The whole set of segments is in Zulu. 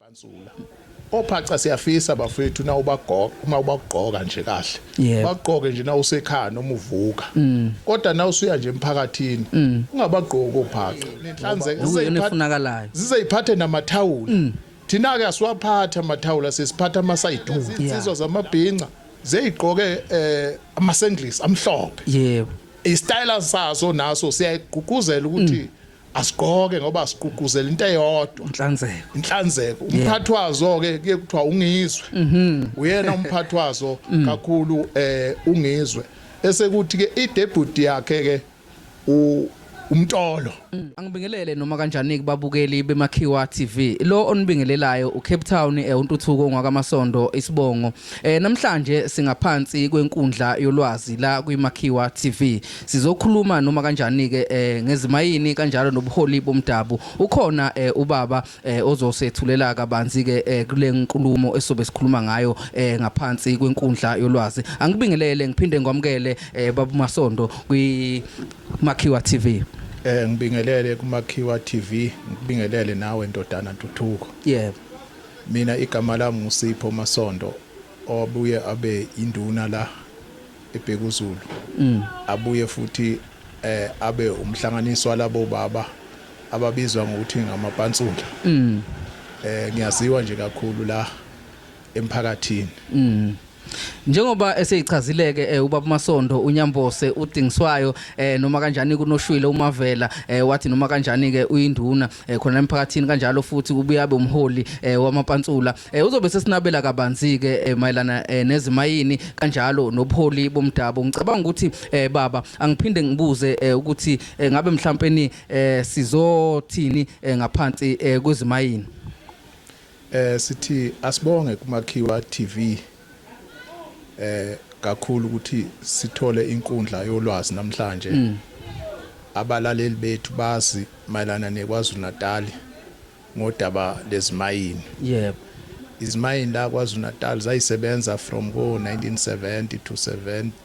Bansula. Ophaca siyafisa bafethu na ubagoqa uma ubagqoka nje kahle. Yebo. Bagqoke nje na usekhaya noma uvuka. Mm. Kodwa na usuya nje emphakathini Mm. ungabagqoki ophaca. Nenhlanzeko Nokuyona zizeyiphatha efunakalayo. zizeyiphathe namathawula. Mm. Thina ke asiwaphatha amathawula sesiphatha amasayiduku. Yeah. Insizwa zamabhinca zeyigqoke eh amasenglis amhlophe. Yebo. Istyle saso naso siyayigqugquzela ukuthi asigqoke ngoba sigqugquzela into eyodwa inhlanzeko inhlanzeko umphathi wazo ke kuye kuthiwa ungizwe mhm. uyena umphathi wazo mm. kakhulu eh ungizwe bese kuthi ke idebut yakhe ke u umtolo mm. angibingelele noma kanjani kubabukeli bemakhiwa TV lo onibingelelayo uCape Town eh, untuthuko ngwakamasondo isibongo Eh namhlanje singaphansi kwenkundla yolwazi la kwiMakhiwa TV. Sizokhuluma noma kanjani ke eh ngezimayini kanjalo nobuholi bomdabu. Ukhona eh ubaba eh ozosethulela kabanzi ke eh kule nkulumo esobe sikhuluma ngayo eh ngaphansi kwenkundla yolwazi. Angibingelele ngiphinde ngwamukele eh babu Masondo kwi Makhiwa TV. Eh ngibingelele kuMakhiwa TV, ngibingelele nawe ndodana Ntuthuko. Yebo. Mina igama lami nguSipho Masondo owabuye abe induna la eBhekuzulu. Mm. Abuye futhi eh abe umhlanganiso walabo baba ababizwa ngokuthi ngamapantsula. Mm. Eh ngiyaziwa nje kakhulu la emphakathini. Mm. Njengoba eseyichazileke eh, ubaba Masondo uNyambose udingiswayo eh, noma kanjani kunoshwile uMavela eh, wathi noma kanjani ke uyinduna eh, khona emphakathini kanjalo futhi ubuyabe umholi eh, wamapantsula eh, uzobe sesinabela kabanzi ke eh, mayelana eh, nezimayini kanjalo nobuholi bomdabu ngicabanga ukuthi eh, baba angiphinde ngibuze eh, ukuthi eh, ngabe mhlawumbe ni eh, sizothini eh, ngaphansi eh, kwezimayini Eh sithi asibonge kuMakhiwa TV eh kakhulu ukuthi sithole inkundla yolwazi namhlanje. Mm. Abalaleli bethu bazi mayelana neKwaZulu Natal ngodaba lezimayini. Yebo. Izimayini la KwaZulu Natal zayisebenza from ko 1970 to 70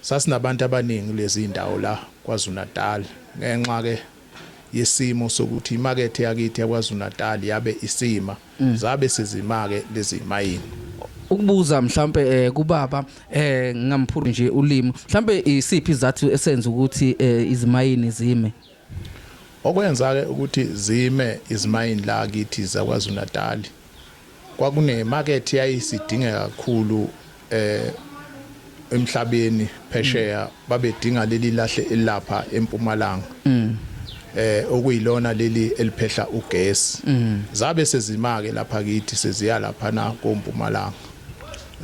Sasinabantu abaningi kulezi zindawo la KwaZulu-Natal. Ngenxa ke yesimo sokuthi imakethe yakithi yaKwaZulu-Natal yabe isima, zabe sezima-ke lezi zimayini. Ukubuza mhlawumpe kubaba, ngingamphuri nje ulimi, mhlawumpe isiphi isizathu esenza ukuthi izimayini zime? Okwenza-ke ukuthi zime izimayini la kithi zaKwaZulu-Natali, kwakunemakethe eyayisidingeka kakhulu emhlabeni phesheya, babedinga leli lahle elilapha eMpumalanga, okuyilona leli eliphehla ugesi. Zabe sezima-ke lapha kithi, seziya laphana koMpumalanga.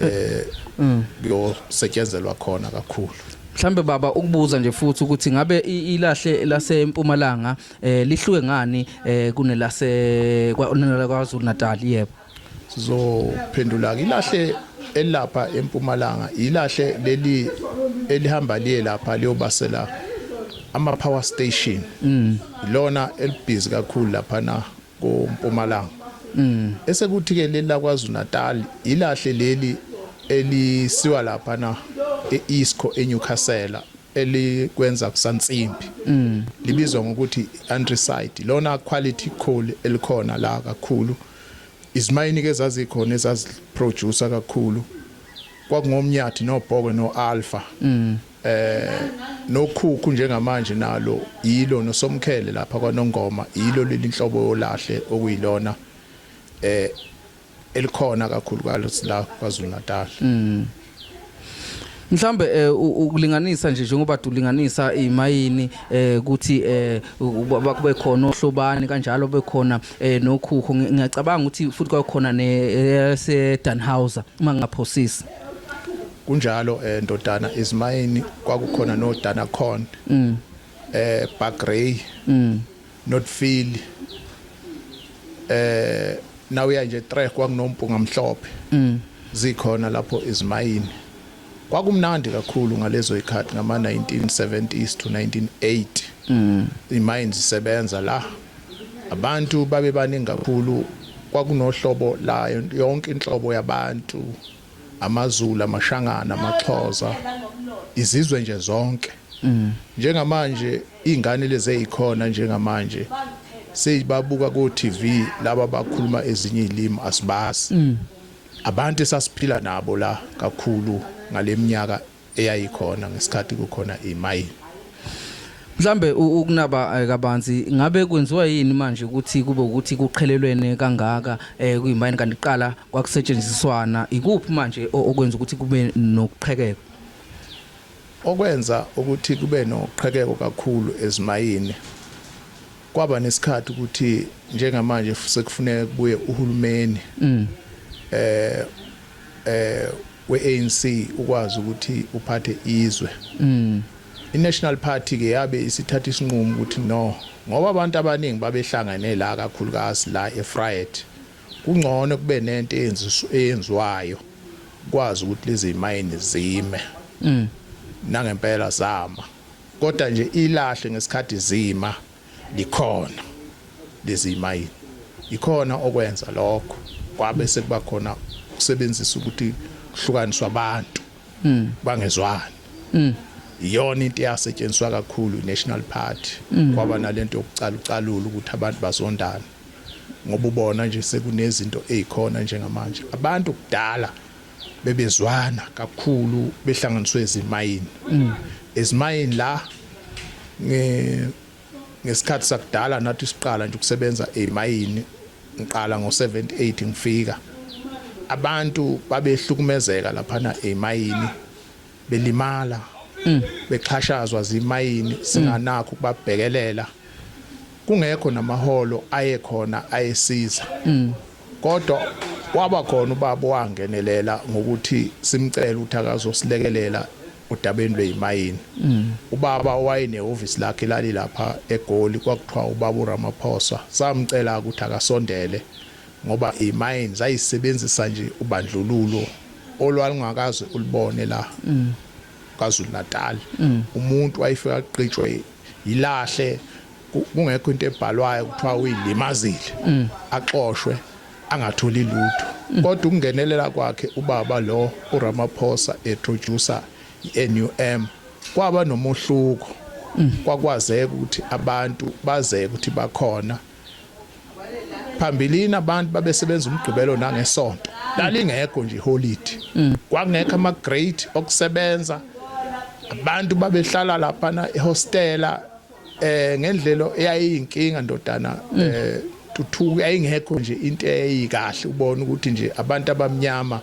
eh mm. kuyosetyenzelwa khona kakhulu mhlambe baba ukubuza nje futhi ukuthi ngabe ilahle lasempumalanga eh lihluke ngani eh kunelase kwanela kwaZulu Natal yebo sizophendula ilahle elapha empumalanga ilahle leli elihamba liye lapha liyobasela ama power station mm. lona elibhizi kakhulu lapha na kompumalanga mm. esekuthi ke leli lakwaZulu Natal ilahle leli elisiwa lapha na eIsco eNewcastle elikwenza kusansimbi mm. libizwa ngokuthi andricide lona quality coal elikhona la kakhulu izimayini ke zazikhona ezaziproducer kakhulu kwakungomnyathi nobhoko noalpha mm. eh nokhukhu njengamanje nalo yilo nosomkhele lapha kwaNongoma yilo leli nhlobo yolahle okuyilona eh elikhona kakhulu kalusi la kwaZulu Natal mm. mhlambe eh, ukulinganisa nje njengoba dulinganisa imayini eh, ukuthi eh, bakube khona ohlobani kanjalo bekhona nokhukho ngiyacabanga ukuthi futhi kwakhona ne se Danhauser uma ngaphosisi Kunjalo eh ndodana izimayini kwakukhona no Danacon. Mm. Eh Bagrey. Mm. Not feel. Eh nawe ya nje trek kwakunompunga mhlophe. Mm. Zikhona lapho izimayini. Kwakumnandi kakhulu ngalezo ikhathi ngama 1970s to 1980. Mm. Imayini zisebenza la. Abantu babe baningi kakhulu kwakunohlobo layo yonke inhlobo yabantu. amaZulu, amaShangana, amaXhosa, izizwe nje zonke. Njengamanje izingane lezi ezikhona njengamanje seyibabuka ko TV laba bakhuluma ezinye izilimi asibazi. Abantu esasiphila nabo la kakhulu ngaleminyaka eyayikhona ngesikhathi kukhona imayini Mhlambe ukunaba eh, kabanzi ngabe kwenziwa yini manje ukuthi kube ukuthi kuqhelelwene kangaka eh kuyimayini kanti qala kwakusetshenziswana ikuphi manje okwenza ukuthi kube nokuqhekeka okwenza ukuthi kube noqhekeko kakhulu ezimayini kwaba nesikhathi ukuthi njengamanje sekufuneka kubuye uhulumeni mm. eh eh we-ANC ukwazi ukuthi uphathe izwe. Mm. I-National Party ke yabe isithatha isinqumo ukuthi no ngoba abantu abaningi babehlangene la kakhulukazi la eFried kungcono kube nento eyenziwayo kwazi ukuthi lezi mayini zime mm. nangempela zama kodwa nje ilahle ngesikhathi zima likhona lezi mayini ikhona okwenza lokho kwabe sekuba khona ukusebenzisa ukuthi kuhlukaniswa abantu mm. bangezwani mm. iyona into eyasetshenziswa kakhulu i-national party mm. kwaba nalento yokucalucalula ukuthi abantu bazondana ngoba ubona nje sekunezinto ezikhona njengamanje abantu kudala bebezwana kakhulu behlanganiswe ezimayini mm. ezimayini la ngesikhathi sakudala nathi siqala nje ukusebenza ezimayini ngiqala ngo-78 ngifika abantu babehlukumezeka laphana ezimayini belimala mm. bexhashazwa zimayini singanakho ukubabhekelela kungekho namaholo ayekhona ayesiza mm. Kodwa waba khona ubaba owangenelela ngokuthi simcele ukuthi akazosilekelela odabeni lwezimayini. Mm. Ubaba owayenehhovisi lakhe lalilapha eGoli kwakuthiwa ubaba uRamaphosa. Samcela ukuthi akasondele ngoba izimayini zayisebenzisa nje ubandlululo olwalungakaze ulibone la. Mm. KwaZulu-Natal. Mm. Umuntu wayefika aqitshwe yilahle kungekho into ebhalwayo kuthiwa uyilimazile mm. axoshwe angatholi lutho mm. kodwa ukungenelela kwakhe ubaba lo uRamaphosa etroducer iNUM kwaba nomuhluko mm. kwakwazeka ukuthi abantu bazeke ukuthi bakhona phambilini abantu babesebenza umgqibelo nangesonto lalingekho nje holiday kwakungekho ama grade okusebenza abantu babehlala lapha na ehostela eh ngendlelo eyayiyinkinga ndodana mm. eh tuthuku yayingekho nje into eyikahle ubona ukuthi nje abantu abamnyama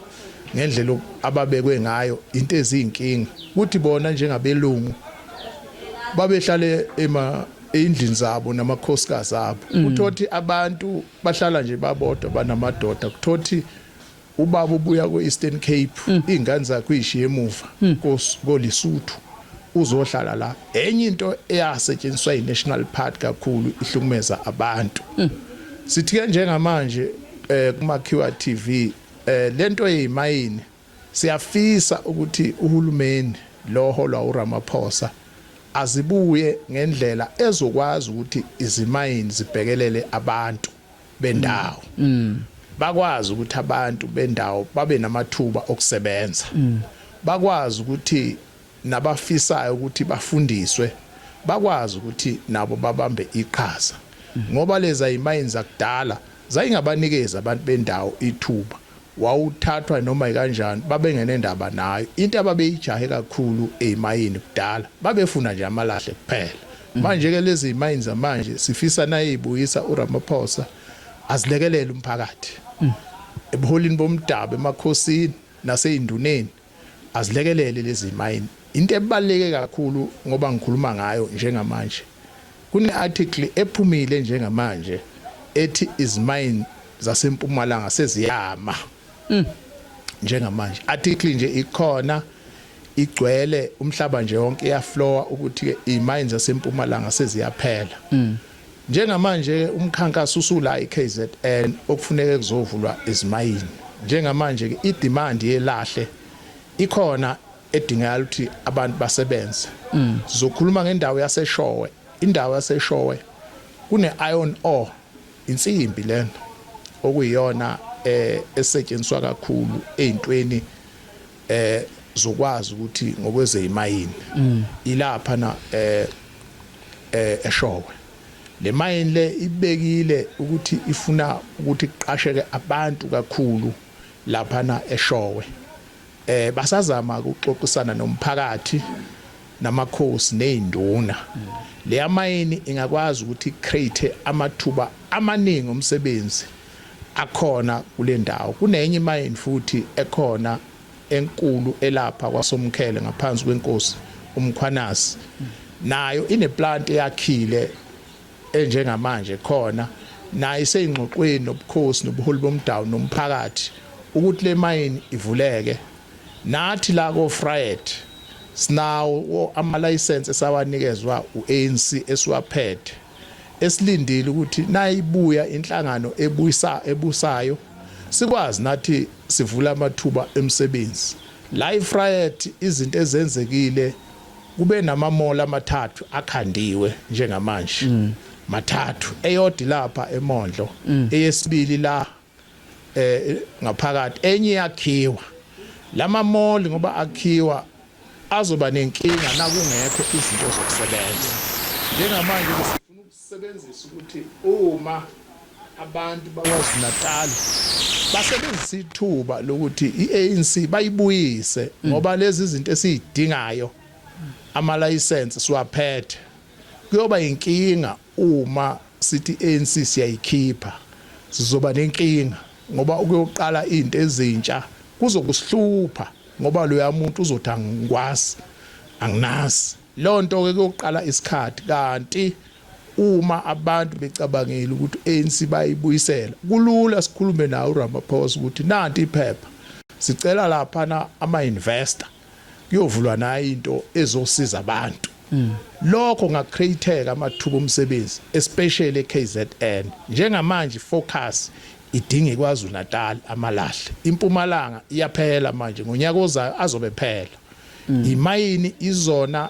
ngendlela ababekwe ngayo into ezinkinga ukuthi bona njengabelungu babehlale ema endlini zabo namakhosikazi abo mm. uthothi abantu bahlala nje babodwa banamadoda kuthothi Ubaba ubuya kwe-Eastern Cape, mm. iy'ngane zakhe uyishiye emuva mm. koLisuthu uzohlala la. Enye into eyasetshenziswa yi-National Party kakhulu ihlukumeza abantu. Mm. Sithi-ke njengamanje eh kumakhiwa TV eh lento yeyimayini siyafisa ukuthi uhulumeni lo holwa uRamaphosa azibuye ngendlela ezokwazi ukuthi izimayini zibhekelele abantu bendawo bakwazi ukuthi abantu bendawo babe namathuba okusebenza bakwazi ukuthi nabafisayo ukuthi bafundiswe bakwazi ukuthi nabo babambe iqhaza ngoba leza imayini zakudala zayingabanikeza abantu bendawo ithuba wawuthathwa noma ikanjani babengenendaba nayo into ababeyijahe kakhulu ezimayini kudala babefuna nje amalahle kuphela mm. manje ke lezi zimayini zamanje sifisa nayibuyisa uRamaphosa azilekelele umphakathi mm. ebuholini bomdabu emakhosini naseyinduneni azilekelele lezi mayini into ebaluleke kakhulu ngoba ngikhuluma ngayo njengamanje kune-article ephumile njengamanje ethi izimayini zasempumalanga seziyama mm. njengamanje article nje ikhona igcwele umhlaba nje wonke iyaflowa ukuthi-ke imayini zasempumalanga seziyaphela mm. Njengamanje-ke umkhankaso usula eKZN okufuneke kuzovulwa izimayini. Njengamanje-ke idimandi yelahle ikhona edingakala ukuthi abantu basebenze. Sizokhuluma ngendawo yaseShowe. Indawo yaseShowe kune-iron ore, insimbi lena okuyiyona esetshenziswa kakhulu ey'ntweni eh zokwazi ukuthi ngokwezeyimayini mm. ilapha na eh, eh eshowe le mayini le ibekile ukuthi ifuna ukuthi kuqasheke abantu kakhulu lapha na eshowe eh basazama ukuxoxisana nomphakathi namakhosi nezinduna mm. le yamayini ingakwazi ukuthi create amathuba amaningi omsebenzi akhona kule ndawo. Kunenye imayini futhi ekhona enkulu elapha kwaSomkhele ngaphansi kwenkosi uMkhwanazi. Nayo ineplanti eyakhile enjengamanje khona nayo iseyingxoxweni nobukhosi nobuholi bomdawu nomphakathi ukuthi le mayini ivuleke. Nathi la koFryet sinawo amalayisense esawanikezwa u-ANC esiwaphethe. esilindile ukuthi nayibuya inhlangano ebuyisa ebusayo sikwazi nathi sivula amathuba emsebenzi la ifriet izinto ezenzekile kube namamola amathathu akhandiwe njengamanje mm. mathathu eyodi lapha emondlo mm. eyesibili la eh ngaphakathi enye yakhiwa lama mall ngoba akhiwa azoba nenkinga nakungekho izinto zokusebenza njengamanje sifuna ukusebenzisa ukuthi uma abantu bakwazi Natal basebenzisa ithuba lokuthi iANC bayibuyise ngoba lezi zinto esizidingayo ama license siwaphethe kuyoba inkinga Uma sithi iANC siyayikhipha sizoba nenkinga ngoba ukuyoqala into ezintsha kuzokusihlupha ngoba loyamuntu uzothi angikwazi anginazi lonto ke kuyoqala isikhathi kanti uma abantu becabangile ukuthi uANC bayibuyisela kulula sikhulume nawe uRamaphosa ukuthi nanti iphepha sicela lapha na ama investor kuyovulwa nayo into ezosiza abantu mm. lokho ngakreateka amathuba omsebenzi especially eKZN njengamanje focus idinga iKwaZulu Natal amalahle impumalanga iyaphela manje ngonyaka ozayo azobe phela mm. imayini izona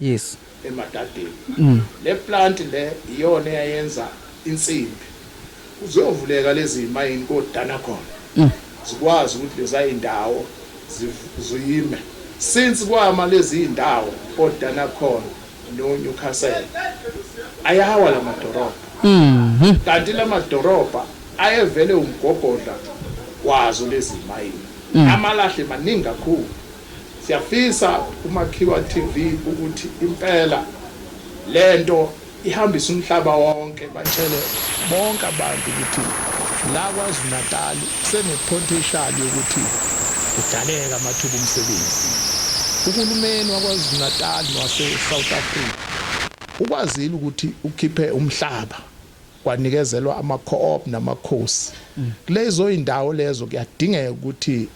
yes emadadeni mm. le plant le iyona eyayenza insimbi kuzovuleka lezi mayini kodana khona mm. zikwazi ukuthi leza indawo ziyime since kwama lezi indawo kodana khona no Newcastle ayawa la madorobha mhm kanti la madorobha ayevele umgogodla wazo lezi mayini mm. amalahle maningi kakhulu Siyafisa kuMakhiwa TV ukuthi impela lento ihambise umhlaba wonke batshele bonke abantu ukuthi la KwaZulu-Natal sene pontial yokuthi kudaleke amathuba omsebenzi. Uhulumeni waKwaZulu-Natal nowase South Africa ukwazile ukuthi ukhiphe umhlaba kwanikezelwa ama co-op namakhosi. Kulezo zindawo lezo kuyadingeka ukuthi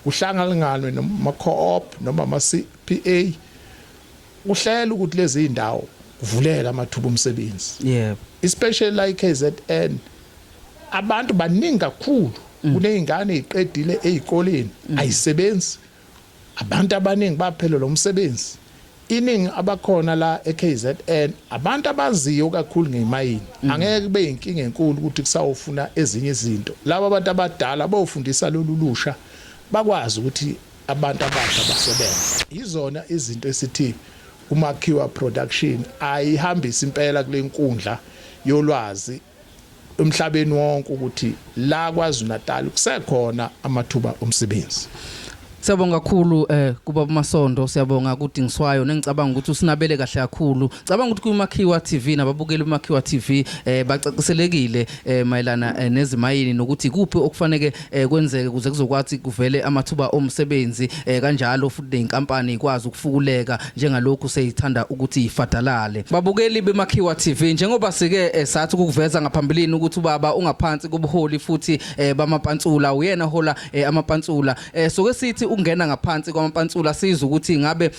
Kuhlangalinganwe nama-co-op noma ama-CPA kuhlela ukuthi lezi iy'ndawo kuvuleke amathuba omsebenzi yebo especially la i-KZN abantu baningi kakhulu mm. kuney'ngane ey'qedile ey'koleni mm. ayisebenzi abantu abaningi baphelelwa umsebenzi Iningi abakhona la eKZN abantu abaziyo kakhulu ngemayini. Mm. Angeke kube yinkinga enkulu ukuthi kusawofuna ezinye izinto. Laba abantu abadala bofundisa lolu lusha bakwazi ukuthi abantu abasha basebenze. Yizona izinto esithi uMakhiwa Production ayihambise impela kule nkundla yolwazi emhlabeni wonke ukuthi la KwaZulu-Natal kusekhona amathuba omsebenzi. Siyabonga kakhulu eh kuba masondo siyabonga kudingiswayo nengicabanga ukuthi usinabele kahle kakhulu. Cabanga ukuthi kuMakhiwa TV nababukeli uMakhiwa TV eh bacaciselekile eh mayelana eh, nezimayini nokuthi kuphi okufaneke eh, kwenzeke kuze kuzokwathi kuvele amathuba omsebenzi eh, kanjalo futhi nenkampani ikwazi ukufukuleka njengalokhu seyithanda ukuthi ifadalale babukeli bemakhiwa TV njengoba sike eh, sathi ukuveza ngaphambilini ukuthi ubaba ungaphansi kobuholi futhi eh, bamapantsula uyena hola eh, amapantsula eh, soke sithi ukungena ngaphansi kwamapantsula sizwe ukuthi ngabe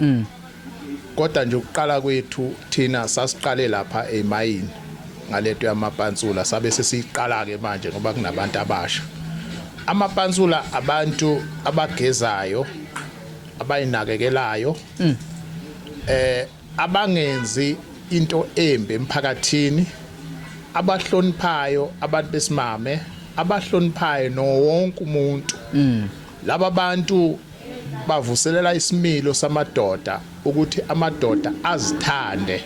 mm. kodwa nje ukuqala kwethu thina sasiqale lapha emayini ngaleto yamapansula sabe sesiyiqala ke manje ngoba kunabantu abasha amapansula abantu abagezayo abayinakekelayo mm. eh abangenzi into embi emphakathini abahloniphayo abantu besimame abahloniphayo nowonke umuntu mm. laba bantu bavuselela isimilo samadoda ukuthi amadoda azithande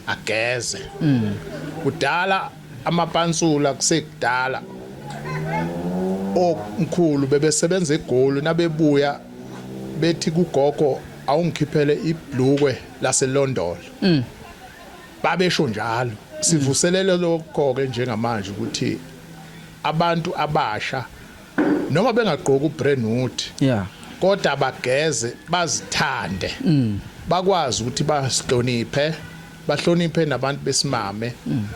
ageze mm. kudala amapansula kusekudala omkhulu bebesebenza egoli nabebuya bethi kugogo awungikhiphele ibhlukwe laselondolo mm. babesho njalo sivuselele lokho ke njengamanje ukuthi abantu abasha noma bengagqoki ubrandwood yeah kodwa bageze bazithande mm. bakwazi ukuthi basihloniphe bahloniphe nabantu besimame mm.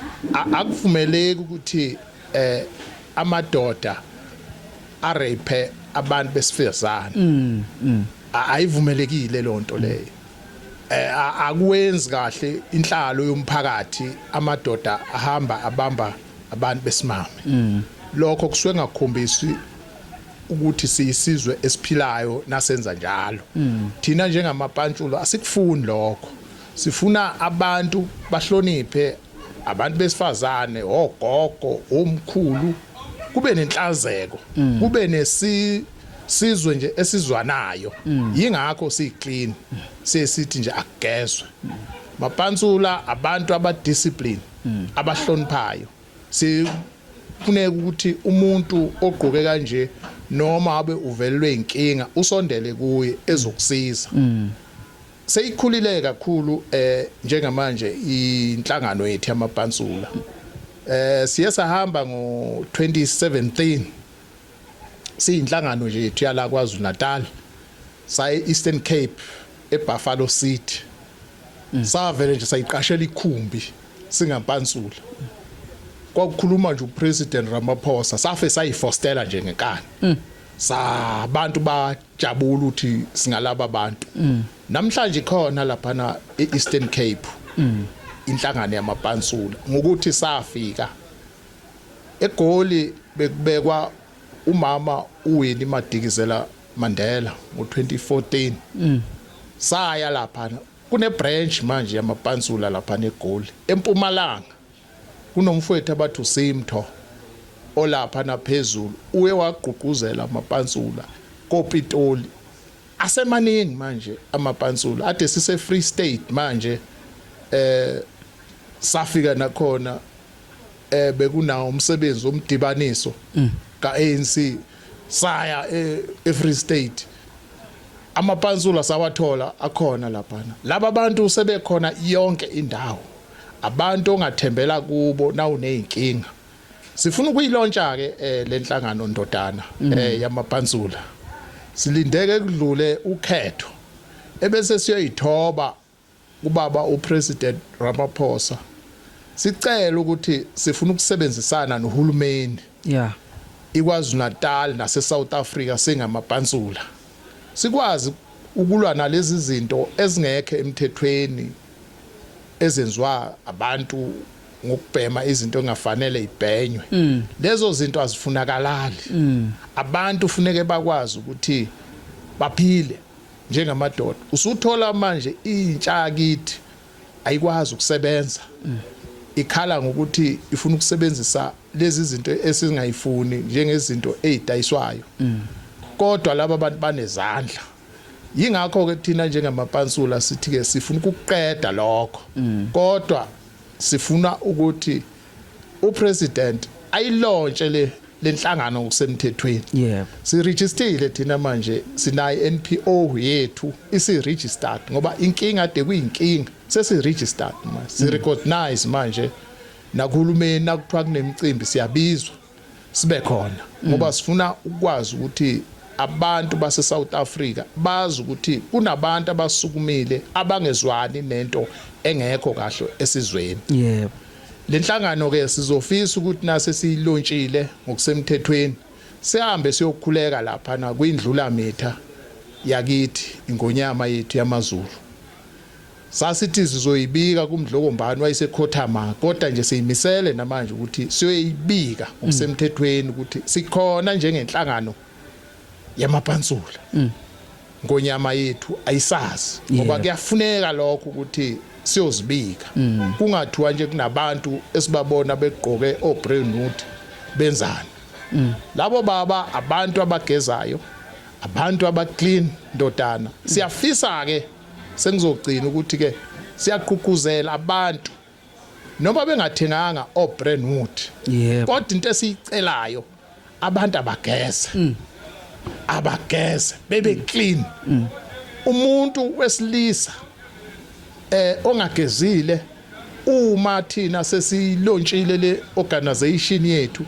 akuvumeleki ukuthi eh amadoda arape abantu besifezana mm, mm. ayivumelekile lonto leyo eh, akwenzi kahle inhlalo yomphakathi amadoda ahamba abamba abantu besimame mm. lokho kusuke ngakhombisi ukuthi siyisizwe esiphilayo nasenza njalo mm. thina njengamapantshulo asikufuni lokho sifuna abantu bahloniphe abantu besifazane ogogo omkhulu kube nenhlazeko mm. kube nesi sizwe nje esizwanayo mm. yingakho siyiclean sesithi nje akugezwe mapansula abantu abadiscipline hmm. abahloniphayo sifuneka ukuthi umuntu ogqoke kanje noma abe uvelelwe inkinga usondele kuye ezokusiza hmm. seyikhulile kakhulu eh njengamanje inhlangano yethu yamapansula eh siye sahamba ngo 2017 siyinhlangano nje yethu yala KwaZulu Natal saye Eastern Cape eBuffalo City mm. savele nje sayiqashela ikhumbi singampansula kwakukhuluma nje uPresident Ramaphosa safe sayifostela nje ngenkani mm. sabantu bajabula ukuthi singalaba bantu mm. namhlanje khona lapha na eEastern Cape inhlangano yamapansula ngokuthi safika EGoli bekubekwa umama uWinnie Madikizela Mandela ngo-2014 mm. saya lapha kune-branch manje yamapansula lapha neGoli empumalanga kunomfowethu abathi uSimtho olapha naphezulu uye wagqugquzela amapansula kopitoli asemaningi manje amapansula ade sise-free state manje eh safika nakhona eh bekunawo umsebenzi omdibaniso mm. kaANC saya e, eFree State amapansula sawathola akhona laphana laba bantu sebekhona yonke indawo abantu ongathembela kubo nawunezinkinga sifuna ukuyilontsha ke eh, lenhlangano ndodana mm. eh, yamapansula silindeke kudlule ukhetho ebese siyoyithoba kubaba uPresident Ramaphosa sicela ukuthi sifuna ukusebenzisana nohulumeni yeah iKwaZulu-Natal naseSouth Africa singamabhansula sikwazi ukulwa nalezi zinto ezingekho emthethweni ezenziwa abantu ngokubhema izinto engafanele ibhenywe mm. lezo zinto azifunakalali mm. abantu funeke bakwazi ukuthi baphile njengamadoda usuthola manje intsha yakithi ayikwazi ukusebenza ikhala ngokuthi ifuna ukusebenzisa lezi zinto esingayifuni njengezinto ezidayiswayo kodwa laba bantu banezandla yingakho ke thina njengamapansula sithi ke sifuna ukuqeda lokho kodwa sifuna ukuthi upresident ayilontshe le lenhlangano ngokusemthethweni yebo siregistile thina manje sinayi NPO yethu isi registered ngoba inkinga ade kuyinkinga sesi registered manje si recognize manje nakuhulumeni nakuthiwa kunemicimbi siyabizwa sibe khona ngoba mm. sifuna ukwazi ukuthi abantu base South Africa bazi ukuthi kunabantu abasukumile abangezwani nento engekho kahle esizweni yebo lenhlangano ke sizofisa ukuthi nase siyilontshile ngokusemthethweni sihambe siyokhuleka lapha na kwindlula mitha yakithi ingonyama yethu yamazulu Sasithi sizoyibika kuMdlokombani wayesekhothama kodwa nje siyimisele namanje ukuthi siyoyibika ngokusemthethweni ukuthi sikhona njengenhlangano yamapansula. Mm. Ngonyama yethu ayisazi ngoba kuyafuneka lokho ukuthi siyozibika. Mm. Kungathiwa nje kunabantu esibabona begqoke obrand nude benzani. Mm. Labo baba abantu abagezayo, abantu abaclean ndodana. Siyafisa ke Sengizogcina ukuthi ke siyagqugquzela abantu noma bengathenganga o Brentwood. Yebo. Kodwa into esiyicelayo abantu abageze. Mm. Abageze bebe mm. clean. Mm. Umuntu wesilisa eh ongagezile Uma thina sesiyilontshile le organisation yethu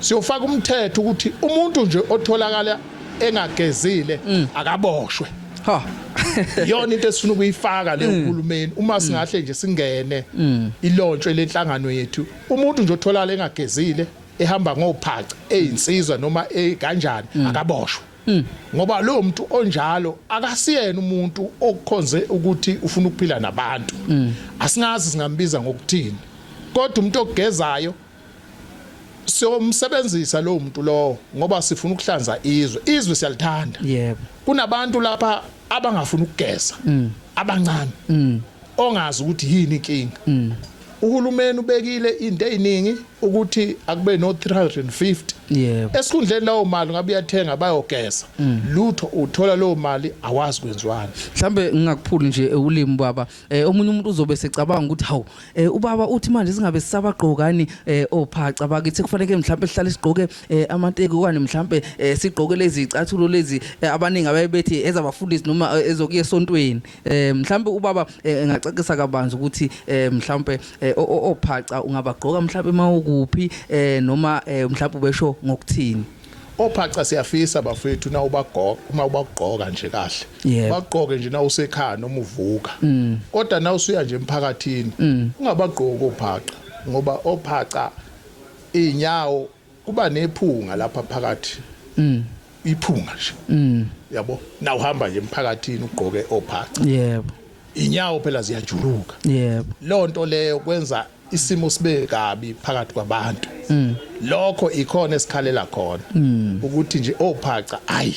siyofaka umthetho ukuthi umuntu nje otholakala engagezile mm. akaboshwe. Ha. Yona into esifuna ukuyifaka le mm. uhulumeni uma mm. singahle nje singene ilontshwe lenhlangano yethu umuntu nje otholakala engagezile ehamba ngophaca eyinsizwa noma e, kanjani akaboshwe. Hmm. ngoba lowo muntu onjalo akasiyena umuntu okukhonze ukuthi ufuna ukuphila nabantu hmm. asingazi singambiza ngokuthini kodwa umuntu ogezayo siyomsebenzisa lowo muntu lowo ngoba sifuna ukuhlanza izwe izwe siyalithanda yebo kunabantu lapha abangafuni ukugeza hmm. abancane ongazi ukuthi yini inkinga mm. uhulumeni ubekile into eziningi ukuthi akube no 350 yebo esikhundleni lawo mali ngabe uyathenga bayogeza mm. lutho uthola leyo mali awazi kwenziwani mhlambe ngingakuphuli nje ulimi baba eh, omunye umuntu uzobe secabanga ukuthi hawu eh, ubaba uthi manje singabe sisabagqokani eh, ophaca oh, bakithi kufanele mhlambe sihlale sigqoke amateki okanye mhlambe sigqoke lezi icathulo lezi abaningi abayebethi ezabafundisi noma ezokuye esontweni eh mhlambe ubaba eh, engacacisa kabanzi ukuthi eh mhlambe eh, o- o- ophaca ungabagqoka mhlambe mawukuphi eh noma eh, mhlambe ubesho ngokuthini ophaca siyafisa bafethu na ubagoqa uma ubagqoka nje kahle Yebo. bagqoke nje na usekhaya noma uvuka kodwa na usuya nje emphakathini ungabagqoki ophaca ngoba ophaca inyawo Kuba nephunga lapha phakathi. Mm. Iphunga nje. Mm. Yabo. Na uhamba nje emphakathini ugqoke ophaca. Yebo. Inyawo phela ziyajuluka. Yebo. Lonto leyo kwenza isimo sibe kabi phakathi kwabantu. Mm. Lokho ikhona esikhalela khona. Mm. Ukuthi nje ophaca ayi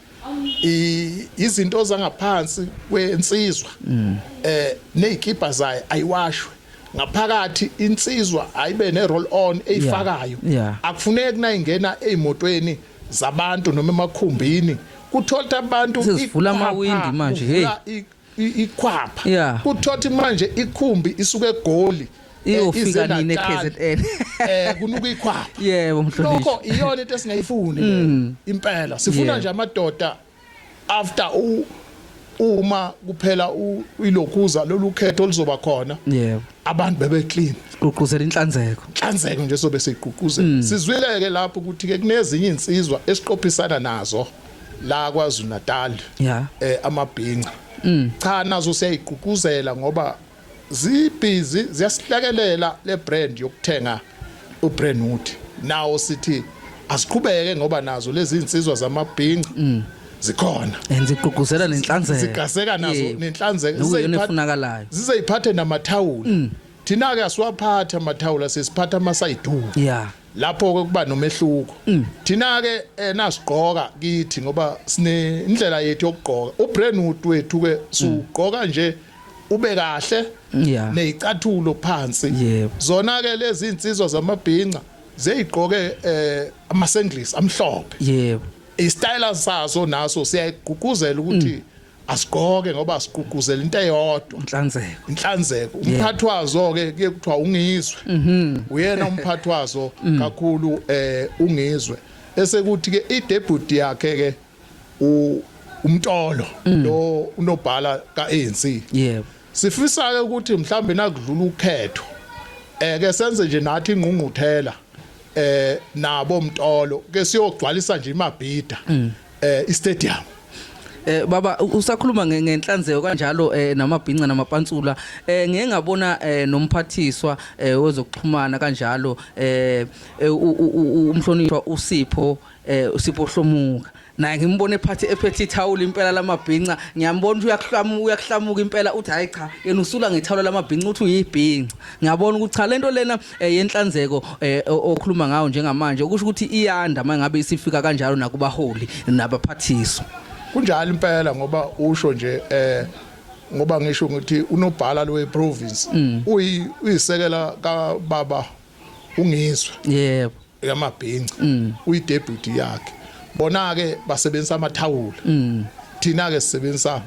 izinto zangaphansi kwensizwa mm. eh nezikibha zayo ayiwashwe ngaphakathi insizwa ayibe ne roll on eyifakayo akufuneki nayingena ezimotweni zabantu noma emakhumbini kuthola abantu sivula amawindi manje hey ikhwapha yeah. kuthothi manje ikhumbi isuke egoli eh, iyofika nini eKZN eh kunuka ikhwapha yebo mhlonishwa lokho iyona into esingayifuni mm. impela sifuna nje amadoda after u uma kuphela ilokhuza lolu khetho oluzoba khona yebo abantu bebe clean gqugquzela inhlanzeko inhlanzeko nje sobe siqhuquzela mm. sizwileke lapho ukuthi ke kunezinye insizwa esiqophisana nazo la kwaZulu Natal yeah. eh amabhinca mm. cha nazo siyayigqugquzela ngoba zibhizi ziyasihlakelela le brand yokuthenga u Brentwood nawo sithi asiqhubeke ngoba nazo lezi insizwa zamabhinca mm. zikhona and zigqugquzela nenhlanzeko zigaseka nazo nenhlanzeko zizeyifunakalayo zizeyiphathe namathawula mm. thina ke asiwaphatha amathawula sesiphatha amasayidu yeah lapho ke kuba nomehluko mm. thina ke eh, nasigqoka kithi ngoba sine indlela yethu yokugqoka ubrandwood wethu ke sugqoka mm. nje ube kahle yeah. nezicathulo phansi yeah. zona ke lezi insizwa zamabhinca zeyigqoke eh amasenglis amhlophe yebo yeah. istyle saso naso siyayigqugquzela ukuthi mm. asigqoke ngoba sigqugquzela into eyodwa inhlanzeko inhlanzeko umphathi wazo ke kuye kuthiwa ungizwe mhm. uyena umphathi wazo mm. kakhulu eh ungizwe bese kuthi ke idebut yakhe ke u umtolo mm. lo unobhala kaANC yebo sifisa ke ukuthi mhlambe nakudlula ukhetho eh ke senze nje nathi ingqungquthela eh nabo mtolo ke siyogcwalisa nje imabhida mm. eh istadium Eh baba usakhuluma ngenhlanzeko kanjalo eh namabhinca namapantsula eh ngeke ngabona eh nomphathiswa eh wezokuxhumana kanjalo eh, eh umhlonishwa uSipho eh uSipho Hlomuka naye ngimbone phathi ephethe ithawula impela lamabhinca ngiyambona uyakuhlamuka uyakuhlamuka impela uthi hayi cha yena usula ngethawula lamabhinca uthi uyibhinca ngiyabona ukuthi cha lento lena eh, yenhlanzeko eh, o- okhuluma ngayo njengamanje okusho ukuthi iyanda uma ngabe isifika kanjalo nakubaholi nabaphathiswa kunjalo impela ngoba usho nje eh ngoba ngisho ukuthi unobhala lowe province uyi uyisekela ka baba ungizwe yebo yamabhinca mm. uyidebut yakhe bona ke basebenzisa amathawula mm. thina ke sisebenzisa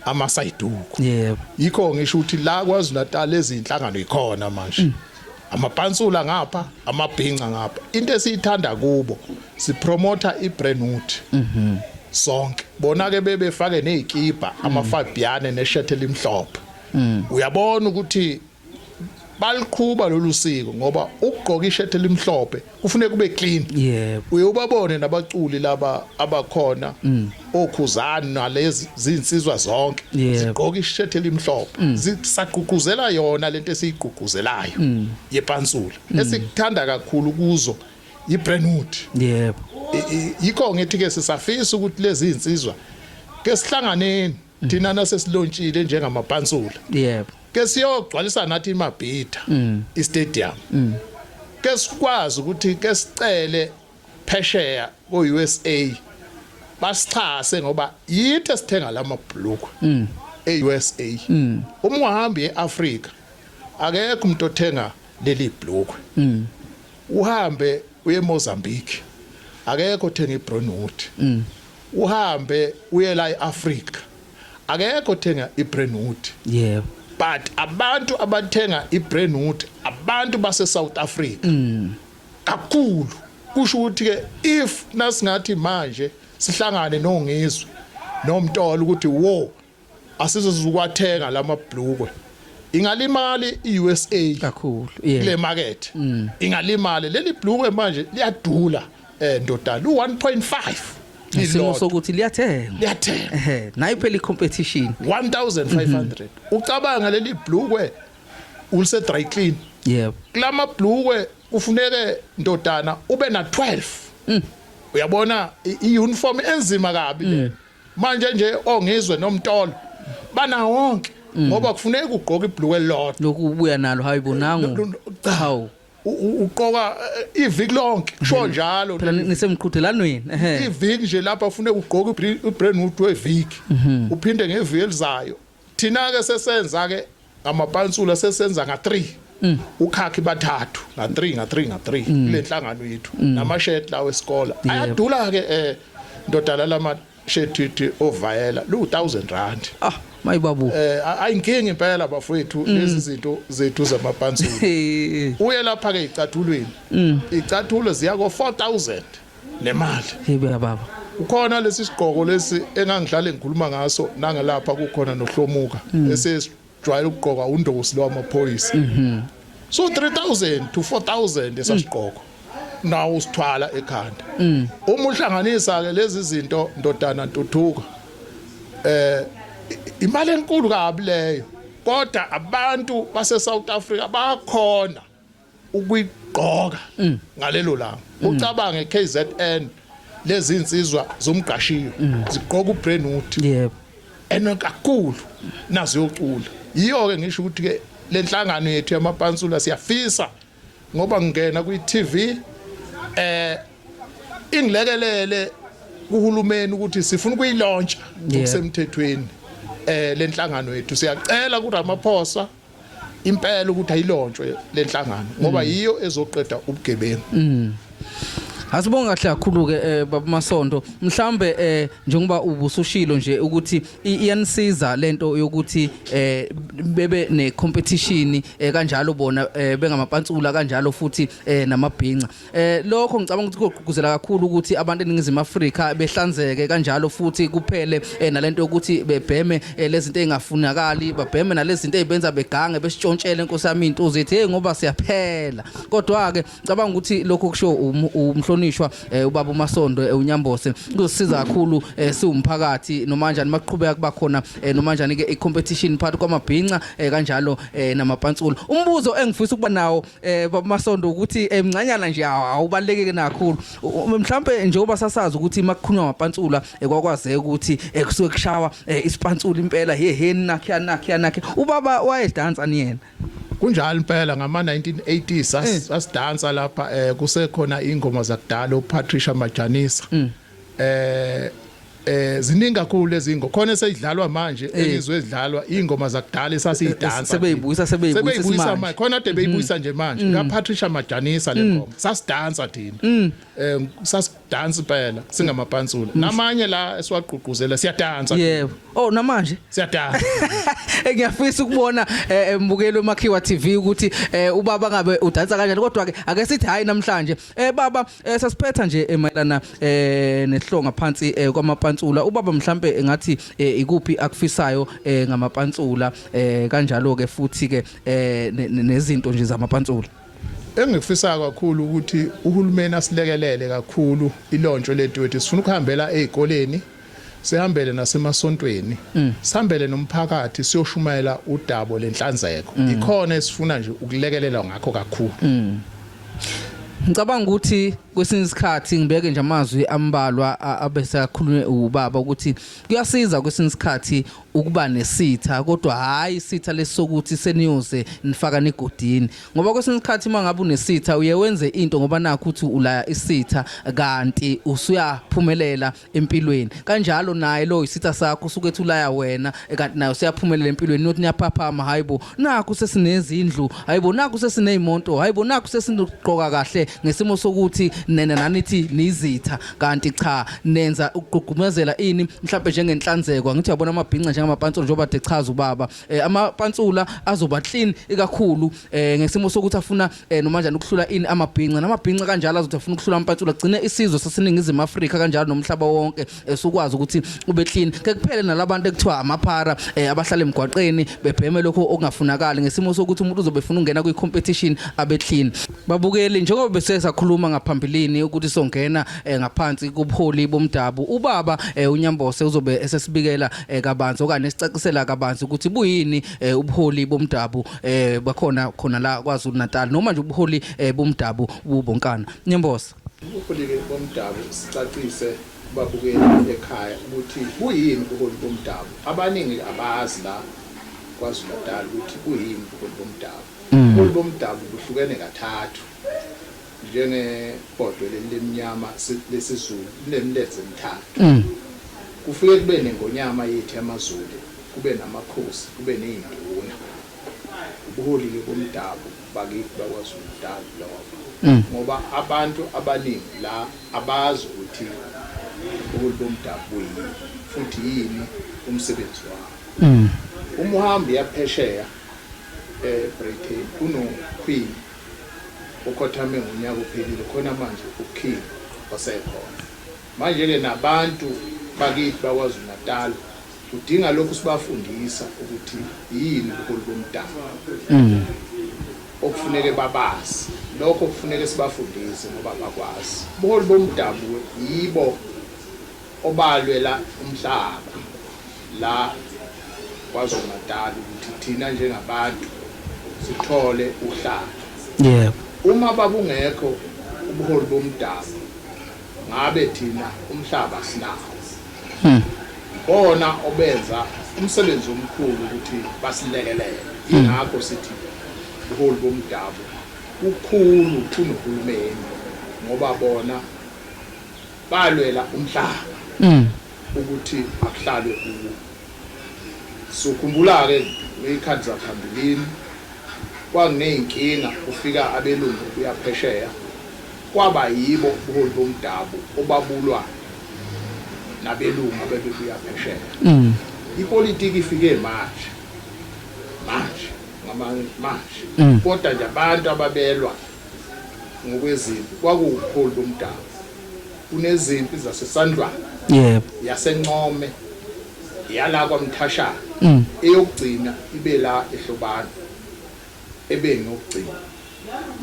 amasayiduku yebo yikho ngisho ukuthi la kwaZulu Natal ezinhlangano ikhona manje mm. amapansula ngapha amabhinca ngapha into esiyithanda kubo sipromotha ibrand wood mhm sonke bona ke bebefake nezikipa amafabiyane neshirt elimhlophe uyabona ukuthi baliqhuba lolu siko ngoba ukugqoka ishirt elimhlophe kufuneka kube clean yebo uye ubabone nabaculi laba abakhona mm. okhuzani nalezi zinsizwa zonke zigqoka ishirt elimhlophe mm. zisagqugquzela yona lento esiyigqugquzelayo mm. yepansula esikuthanda kakhulu kuzo yi brandwood yebo yikho ngithi ke sisafisa ukuthi lezi zinsizwa ke sihlanganeni thina nasesilontshile njengamapansula yebo ke siyogcwalisa nathi imabhida mm. istadium mm. ke sikwazi ukuthi ke sicele phesheya ko-usa basixhase ngoba yithi esithenga la mabhulukwe mm. e-usa mm. uma ungahambi e-afrika akekho umuntu othenga leli bhulukwe mm. uhambe uye Mozambique akekho othenga iBrownwood mm. uhambe uye la eAfrica akekho othenga iBrownwood yebo but abantu abathenga iBrownwood abantu base South Africa mm. kakhulu kusho ukuthi ke if nasingathi manje sihlangane nongizwe nomtolo ukuthi wo asizozukwathenga lamabhlukwe ingalimali iUSA kakhulu kule market mm. ingalimali leli blue manje liyadula eh ndodana u1.5 isimo sokuthi liyathenga liyathenga ehe nayo phela icompetition 1500 mhm. ucabanga leli blue ulise dry clean yebo kulama blue kufuneke ndodana ube na 12 mm. uyabona iuniform enzima kabi le mm. manje nje ongizwe nomtolo bana wonke mm. ngoba kufuneka ugqoke ibhlukwe lodwa lokhu ubuya nalo hayibo nangu hawu uqoka eh, iviki lonke kusho mm. njalo phela nisemqhudelanweni iviki nje lapha ufune ugqoke ibrand new weviki mhm. uphinde ngeviki elizayo Thina ke sesenza ke ngamapansula sesenza nga 3 mm. ukhakhi bathathu nga 3 nga 3 nga 3 mm. kule nhlangano yethu mm. namashirt lawo esikole yeah. ayadula ke eh ndodala lama shirt ovayela lu 1000 rand ah mayibabu eh ayinkingi impela bafowethu mm. lezi zinto zethu zamapansula uye lapha ke icathulweni mm. icathulo ziya ko 4000 nemali ibuya baba ukhona lesi sigqoko lesi engangihlale ngikhuluma ngaso nangelapha kukhona nohlomuka mm. esesijwayele ukugqoka undosi lo wamaphoyisa mm-hmm. so 3000 to 4000 esasigqoko mm. nawo usithwala ekhanda mm. uma uhlanganisa ke lezi zinto ndodana ntuthuka eh imali enkulu kabi leyo kodwa abantu base South Africa bakhona ukuyigqoka mm. ngalelo langa mm. ucabange KZN lezi insizwa zomgashiyo mm. zigqoka ubrandwood yebo ena kakhulu nazo yocula yiyo ke ngisho ukuthi ke lenhlangano yethu yamapansula siyafisa ngoba ngingena kwi TV eh ingilekelele kuhulumeni ukuthi sifuna ukuyilontsha ngokusemthethweni eh lenhlangano yethu siyacela kuRamaphosa impela ukuthi ayilontshwe lenhlangano ngoba mm. yiyo ezoqeda ubugebengu mm. Asibonga kahle kakhulu ke eh, baba Masondo mhlambe eh, njengoba ubusushilo nje ukuthi iyanisiza lento yokuthi eh, bebe ne competition kanjalo bona bengamapantsula kanjalo futhi namabhinca Eh lokho ngicabanga ukuthi kugqugquzela kakhulu ukuthi abantu eningizimu Afrika behlanzeke kanjalo futhi kuphele eh, nalento yokuthi bebheme eh, lezinto ezingafunakali babheme nalezinto ezibenza begange besitshontshele inkosi yami into uzithi hey ngoba siyaphela kodwa ke ngicabanga ukuthi lokho kusho um, umhlonishwa eh, ubaba uMasondo eh, uNyambose kuzosiza kakhulu eh, siwumphakathi noma kanjani maqhubeka kuba khona eh, noma kanjani ke icompetition phakathi kwamabhinca eh, kanjalo eh, namapantsulo umbuzo engifisa ukuba nawo eh bamasondo ukuthi emncanyana eh, nje awubalekeke nakhulu mhlawumbe njengoba sasazi ukuthi makukhulunywa ngamapantsula eh, kwakwazeka ukuthi ekusuke eh, kushawa isipantsula impela he he nakhe nakhe nakhe ubaba wayedansa niyena kunjalo impela ngama 1980s asidansa lapha kusekhona ingoma zakudala uPatricia Majanisa mm. eh eh ziningi kakhulu lezi ngo khona esidlalwa manje Eh. engizwe edlalwa ingoma zakudala esasiyidansa Sebeyibuyisa, nje. sebeyibuyisa sebeyibuyisa isimanje. manje khona ade beyibuyisa nje manje ka Patricia Majanisa le ngoma sasidansa thina eh sasidansa impela singamapansula namanye la esiwagqugquzela siyadansa yebo oh namanje siyadansa Eh, ngiyafisa ukubona eh, eh, mbukeli wemakhiwa tv ukuthi eh, ubaba ngabe udansa kanjani kodwa-ke ake sithi hhayi namhlanje Eh baba eh, sasiphetha nje eh, mayelana eh nehlonga phansi eh, kwamapantsula ubaba mhlambe eh, ngathi eh, ikuphi akufisayo eh, ngamapantsula eh, kanjalo ke futhi ke eh, ne- ne- nezinto nje zamapantsula engikufisayo kakhulu ukuthi uhulumeni asilekelele kakhulu ilontsho lethu wethu sifuna ukuhambela ezikoleni Sihambele nasemasontweni, mm. sihambele nomphakathi siyoshumayela udabo lenhlanzeko. Mm. Ikhona esifuna nje ukulekelelwa ngakho kakhulu. Mm. Ngicabanga ukuthi kwesinye isikhathi ngibeke nje amazwi ambalwa abesakhulunywe ubaba ukuthi kuyasiza kwesinye isikhathi ukuba nesitha kodwa hayi isitha lesokuthi seniyoze nifaka negodini ngoba kwesinye isikhathi uma ngabe unesitha uye wenze into ngoba nakho ukuthi ulaya isitha kanti usuyaphumelela empilweni kanjalo naye lo isitha sakho usuke ethulaya wena eh, kanti nayo siyaphumelela empilweni not niyaphaphama hayibo nakho sesinezindlu hayibo nakho sesineyimoto hayibo nakho sesinokuqoka kahle ngesimo sokuthi nene nanithi nizitha kanti cha nenza ukugqugqumezela ini mhlawumbe njengenhlanzeko angithi uyabona amabhinca njengamapantsula njengoba dechaza ubaba eh, amapantsula azoba clean ikakhulu eh, ngesimo sokuthi afuna eh noma njani ukuhlula ini amabhinca namabhinca kanjalo azothi afuna ukuhlula ampatsula gcine isizwe saseningizimu Afrika kanjalo nomhlaba wonke esukwazi eh, ukuthi ube clean ke kuphele nalabantu ekuthiwa amaphara eh, abahlala emgwaqeni bebheme lokho okungafunakali ngesimo sokuthi umuntu uzobe efuna ukungena kwi competition abe clean babukeli njengoba bese sakhuluma ngaphambilini ukuthi songena eh, ngaphansi kubuholi bomdabu ubaba unyambose uzobe esesibikela kabanzi okanye esicacisela kabanzi ukuthi buyini ubuholi bomdabu eh bakhona khona la kwaZulu Natal noma nje ubuholi eh, bomdabu bubonkana niyambosa ubuholi bomdabu sicacise babukeli ekhaya ukuthi kuyini ubuholi bomdabu abaningi abazi la kwaZulu Natal ukuthi kuyini ubuholi bomdabu mm. ubuholi bomdabu buhlukene kathathu Njengebhodwe leli limnyama lesiZulu linemilenze emithathu. Mm. Kufike kube nengonyama yethu yamaZulu, kube namakhosi, kube ney'nduna. Ubuholi-ke bomdabu bakithi bakwaZulu Natal lobo. Mm. Ngoba abantu abaningi la abazi ukuthi ubuholi bomdabu buyini futhi yini umsebenzi wabo. Mm. Uma uhamba uyaphesheya eBritain eh, kunoQueen ukhothame ngonyaka ophelile khona manje uKing osekhona manje ke nabantu bakithi bakwaZulu Natal udinga lokhu sibafundisa ukuthi yini ubuholi bomdabu mm. okufuneke babazi lokho kufuneke sibafundise ngoba bakwazi ubuholi bomdabu yibo obalwela umhlaba la KwaZulu-Natal ukuthi thina njengabantu sithole uhlaka. Yebo. Uma babungekho ubuholi bomdabu ngabe thina umhlaba sinawo. Hmm. Bona obenza umsebenzi omkhulu ukuthi basilekelele. Hmm. Ingakho sithi ubuholi bomdabu kukhulu kunohulumeni ngoba bona Balwela umhlaba mm. ukuthi akuhlale kuwo. Sukhumbula ke ngeyikhathi zaphambilini kwakuneyinkinga kufika abelungu kuyaphesheya kwaba yibo ubuholi bomdabu obabulwa nabelungu abebebuya phesheya. Mm. Ipolitiki ifike manje. Manje ngamanje. Mm. Kodwa nje abantu ababelwa ngokwezimpi kwakuwubuholi bomdabu kunezimpi zasesandlwana yebo yasencome yala kwamthashana mm. eyokugcina ibe la ehlobana ebeni yokugcina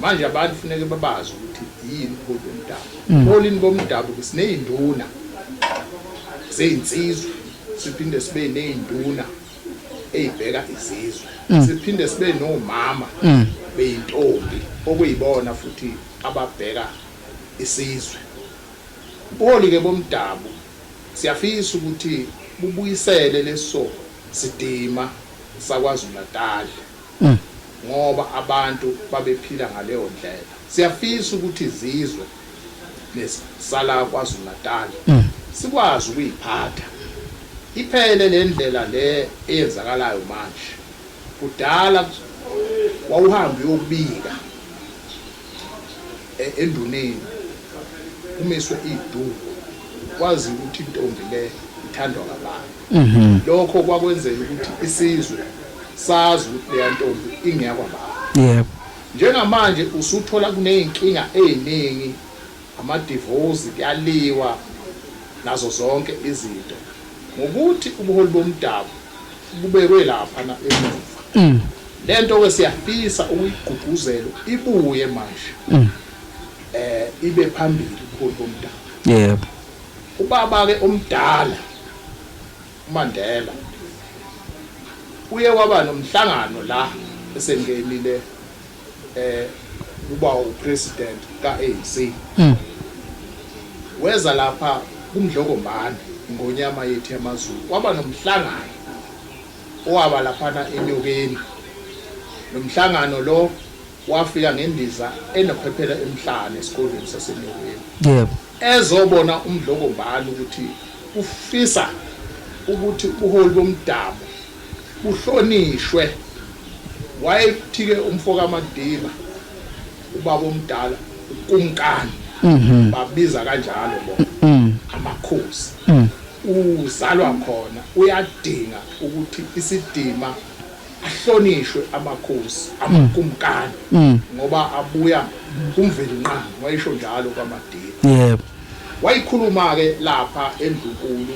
manje abantu funeke babazi ukuthi yini ubuholi bomdabu mm. ubuholini bomdabu sineyinduna zeyinsizwa siphinde sibe neyinduna eyibheka izizwe mm. siphinde sibe nomama mm. beyintombi okuyibona futhi ababheka isizwe ubuholi ke bomdabu siyafisa ukuthi bubuyisele leso sidima sakwaZulu Natal mm. ngoba abantu babephila ngaleyo ndlela siyafisa ukuthi izizwe lezi sala KwaZulu-Natal sikwazi ukuyiphatha iphele le ndlela le eyenzakalayo manje. Kudala wawuhambe uyobika enduneni kumiswe iduku kwaziwa ukuthi intombi le ithandwa ngabani. Mhm. Lokho kwakwenzela ukuthi isizwe sazi ukuthi leya ntombi ingeyakwaBaba. Yebo. Njengamanje usuthola kuneyinkinga eyiningi amadivozi kuyaliwa nazo zonke izinto ngokuthi ubuholi bomdabu bubekwe laphana emuva lento ke siyafisa ukuyigqugquzelu ibuye manje eh ibe phambili ubuholi bomdabu yebo ubaba ke omdala. UMandela uye waba nomhlangano la esengenile eh kuba upresident ka-ANC mm. weza lapha kumdlokombane ngonyama yethu yamazulu kwaba nomhlangano owaba laphana enyokeni lo mhlangano lo wafika ngendiza enophephela emhlane esikolweni sasenyokeni yebo ezobona uMdlokombane ukuthi ufisa ukuthi ubuholi bomdabu buhlonishwe wayekuthike umfo kaMadiba ubaba omdala uKumkani mhm. babiza kanjalo bona mhm. amakhosi mhm. uzalwa khona uyadinga ukuthi isidima Ahlonishwe amakhosi, amakumkani ngoba abuya kuMvelinqangi, wayesho njalo kwaMadiba. Yebo. Wayikhuluma-ke lapha eNdlunkulu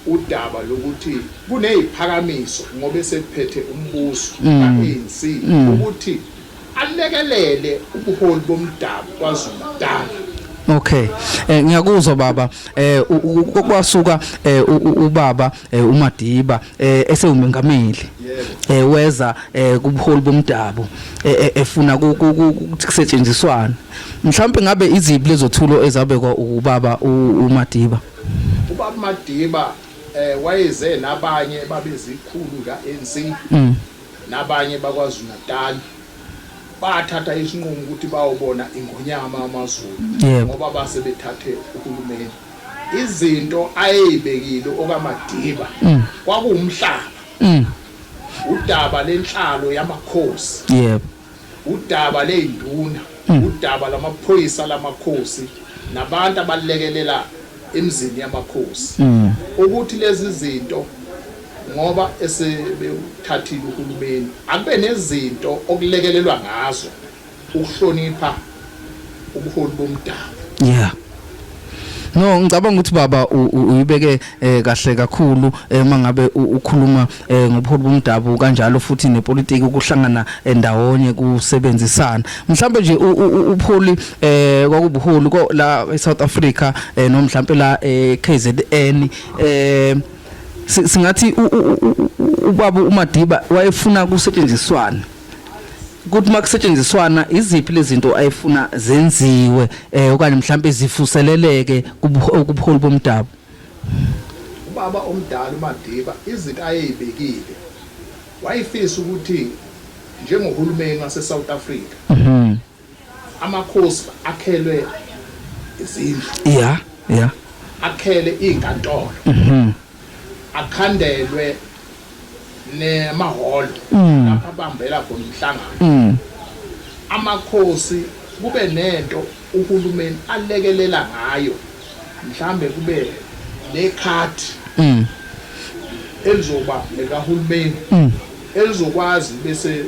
udaba lokuthi kuneziphakamiso ngoba esephethe umbuso ka-ANC ukuthi alekelele ubuholi bomdabu kwaZulu-Natal. Okay. Eh ngiyakuzwa baba eh kwasuka eh, ubaba eh, uMadiba eh, esewumengameli. Eh weza eh, kubuholi bomdabu efuna ukusetshenziswana. Mhlawumbe ngabe iziphi lezothulo ezabekwa ubaba uMadiba. Ubaba Madiba eh wayeze nabanye babezikhulu kaNC. Mm. nabanye baKwaZulu-Natal bathatha isinqumo ukuthi bayobona ingonyama amaZulu ngoba base bethathe uhulumeni izinto ayeyibekile okaMadiba mm. kwakuwumhlaba mm. udaba lenhlalo yamakhosi yebo Udaba ley'nduna, udaba lwamaphoyisa lamakhosi nabantu abalekelela emizini yamakhosi ukuthi lezi zinto ngoba esebewuthathile uhulumeni akube nezinto okulekelelwa ngazo ukuhlonipha ubuholi bomdabu yeah No ngicabanga ukuthi baba uyibeke eh, kahle kakhulu eh, uma ngabe ukhuluma eh, ngobuholi bomdabu kanjalo futhi nepolitiki ukuhlangana endawonye kusebenzisana. Mhlawumbe nje upholi eh kwakubuholi la eSouth Africa no mhlawumbe la eKZN eh singathi ubaba uMadiba wayefuna kusetshenziswana ukuthi uma kusetshenziswana iziphi lezinto ayifuna zenziwe eh okanye mhlawumbe zifuseleleke kubuholi bomdabu ubaba omdala uMadiba izinto ayeyibekile wayefisa ukuthi njengohulumeni wase South Africa mhm amakhosi akhelwe izindlu yeah yeah akhele izinkantolo mhm akhandelwe nemahholo mm. lapho abambela khona umhlangano mm. amakhosi kube nento uhulumeni alekelela ngayo mhlambe kube nekhadi mm. elizoba likahulumeni mm. elizokwazi bese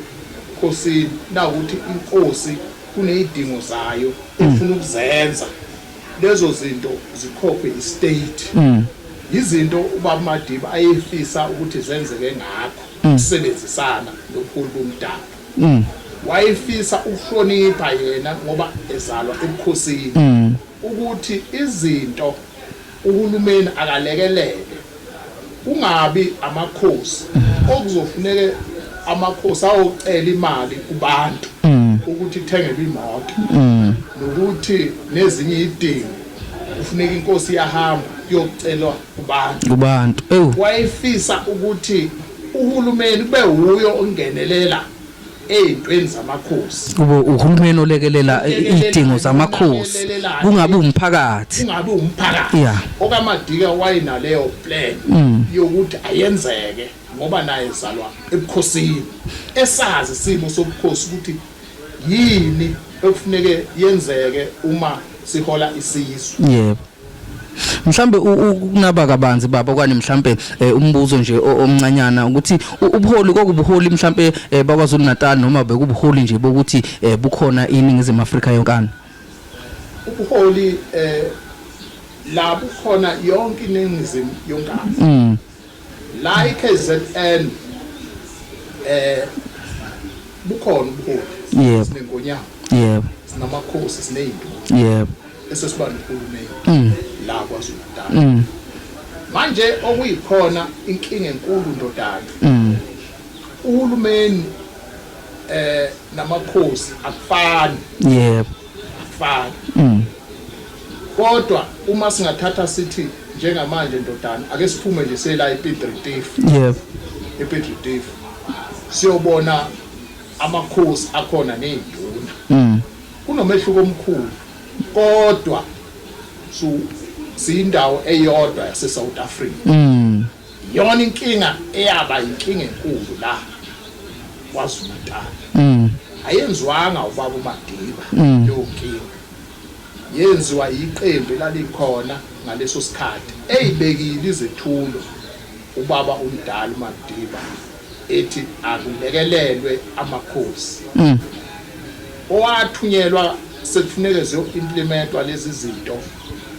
khosini nawukuthi inkosi kuneyidingo zayo efuna ukuzenza lezo zinto zikhokhwe istate yizinto ubaba Madiba ayefisa ukuthi zenzeke ngakho ukusebenzisana nobuholi bomdabu wayefisa ukuhlonipha yena ngoba ezalwa ebukhosini ukuthi izinto uhulumeni akalekelele Kungabi amakhosi okuzofuneke amakhosi ayocela imali kubantu ukuthi ithengelwe imoto nokuthi nezinye idingo kufuneka inkosi yahamba kuyocelwa kubantu kubantu ewu wayefisa ukuthi uhulumeni kube wuyo ongenelela ey'ntweni zamakhosi kube uhulumeni olekelela iy'dingo zamakhosi Lekelelana. kungabi umphakathi kungabi umphakathi Yeah. okamadika wayenaleyo plan Mm. yokuthi ayenzeke ngoba naye zalwa ebukhosini esazi isimo sobukhosi ukuthi yini ekufuneke yenzeke uma sihola isizwe yebo mhlambe ukunaba kabanzi baba okanye mhlambe eh, umbuzo nje omncanyana ukuthi ubuholi kokubuholi mhlambe eh, bakwaZulu Natal noma bekubuholi nje bokuthi eh, bukhona iningizimu Afrika yonkana ubuholi eh labukhona yonke iningizimu yonkana mm. La iKZN eh bukhona ubuholi yebo sinenkonyama yebo sinamakhosi sinezinto yebo esesiba nohulumeni mm. la kwaZulu Natal mm. manje okuyikhona inkinga enkulu ndodana mm. uhulumeni eh namakhosi akufani yebo akufani mm. kodwa uma singathatha sithi njengamanje ndodana ake siphume nje sela epidritif yep epidritif siyobona amakhosi akhona nezinduna mm. kunomehluko omkhulu kodwa so siyindawo eyodwa yase South Africa mm. Iyona inkinga eyaba inkinga enkulu la KwaZulu-Natal. Mm. Ayenziwanga ubaba uMadiba mm. leyo nkinga. Yenziwa yiqembu elalikhona ngaleso sikhathi eyibekile izethulo ubaba umdala uMadiba ethi akulekelelwe amakhosi. Mm. Owathunyelwa sekufuneke ziyo implementwa lezi zinto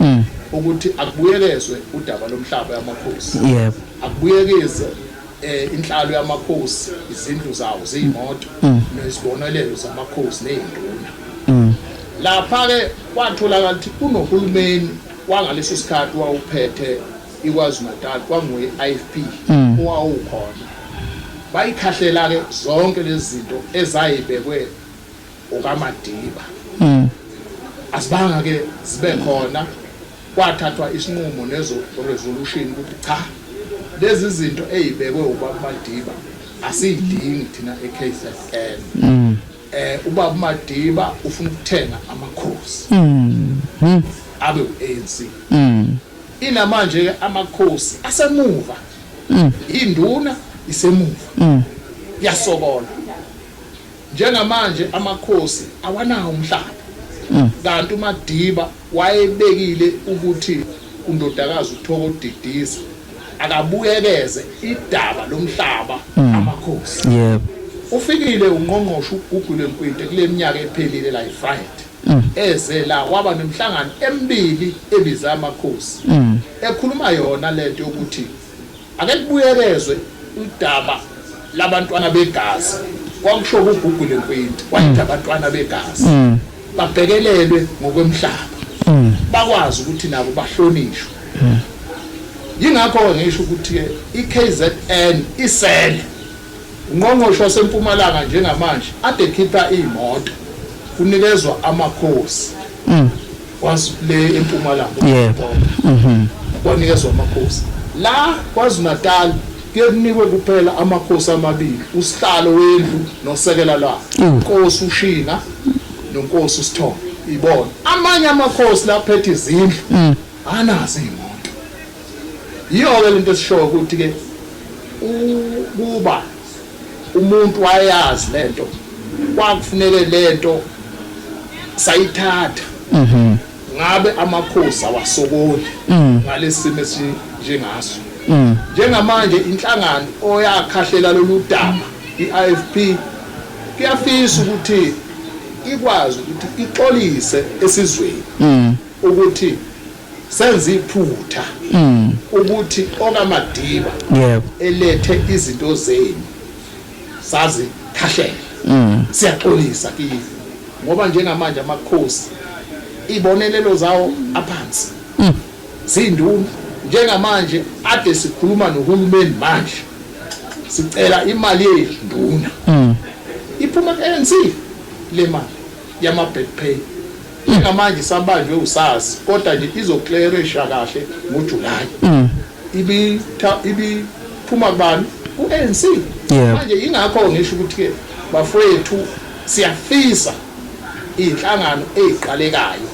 mm. ukuthi akubuyekezwe udaba lomhlaba yamakhosi yebo akubuyekeze eh inhlalo yamakhosi izindlu zawo zeyimoto mm. nezibonelelo zamakhosi nezinduna mm. lapha ke kwatholakala ukuthi kunohulumeni wangaleso sikhathi wawuphethe ikwazi Natal kwanguye IFP mm. owawukhona bayikhahlela ke zonke lezi zinto ezayibekwe ukamadiba mm. asibanga ke sibe khona kwathathwa isinqumo nezo resolution ukuthi cha lezi zinto ezibekwe ubaba Madiba asiyidingi thina eKZN mm. eh ubaba Madiba ufuna ukuthenga amakhosi mm. mm. abe uANC mm. inamanje ke amakhosi asemuva mm. induna isemuva mm. yasokola Njengamanje amakhosi awanawo umhlaba kanti uMadiba wayebekile ukuthi undodakazi uThoko Didiza akabuyekeze idaba lomhlaba amakhosi. Yebo. Ufikile uNgqongqoshe uGugu Lwempwinte kule minyaka ephelile la eFried. Eze la waba nemihlangano emibili ebize amakhosi. Ekhuluma yona lento yokuthi Ake kubuyekezwe udaba labantwana begazi kwakusho kuGugu lekwenti wayethi mm. abantwana begazi mm. babhekelelwe ngokwemhlaba mm. bakwazi ukuthi nabo bahlonishwe yingakho-ke ngisho ukuthi-ke i-kzn isele ungqongqoshe wasempumalanga njengamanje ade khipha iy'moto kunikezwa amakhosi kwazi le empumalanga yebo mhm kwanikezwa amakhosi la kwazi natal kuyenikwe kuphela amakhosi amabili usihlalo wendlu nosekela la inkosi ushina nonkosi usithombe ibona amanye amakhosi laphethe izindlu mm. anazi imoto yiyo ke lento esishoyo ukuthi ke kuba Umuntu wayazi lento kwakufuneke lento sayithatha mhm. ngabe amakhosi awasokoli mm. ngalesimo esinjengaso mm. njengamanje inhlangano oyakhahlela lolu daba i-IFP kuyafisa ukuthi ikwazi ukuthi ixolise esizweni mm. ukuthi senza iphutha mm. ukuthi okamadiba yebo elethe izinto zenu sazi khashela mm. siyaxolisa kini ngoba njengamanje amakhosi ibonelelo zawo aphansi mm. zinduna njengamanje ade sikhuluma nohulumeni manje sicela imali yenduna iphuma ANC le mali yama back pay Njengamanje isabanjwe uSARS kodwa nje izoklerisha kahle ngoJuly. Ibitha ibiphuma kubani? Ku-ANC. Yebo. Manje yingakho ngisho ukuthi-ke bafowethu siyafisa iy'nhlangano ey'qalekayo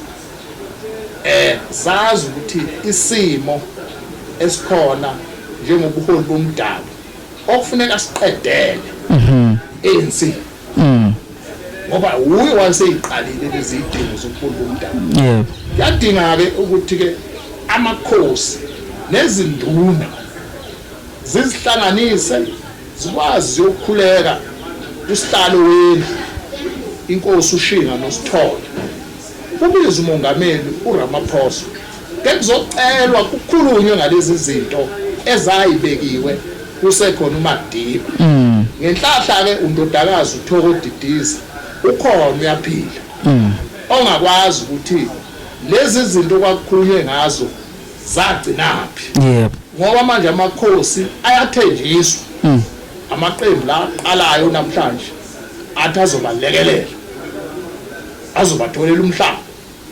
eh zazi ukuthi isimo esikhona njengobuholi bomdabu okufuneka siqedele ANC. Mm. Ngoba wuye waseyiqalile lezi idingo zokufunda umdabu. Yebo. Yadinga ke ukuthi ke amakhosi nezinduna zizihlanganise zikwazi ukukhuleka usihlalo wendlu inkosi ushinga nosithole ubize uMongameli uRamaphosa kekuzocelwa kukhulunywe ngalezi zinto ezayibekiwe kusekhona uMadiba. Ngenhlahla-ke undodakazi uThoko Didiza ukhona uyaphila ongakwazi ukuthi lezi zinto okwakukhulunywe ngazo zagcinaphi Yebo. ngoba manje amakhosi ayathenjiswa amaqembu la aqalayo namhlanje athi azobalekelela azobatholela umhlaba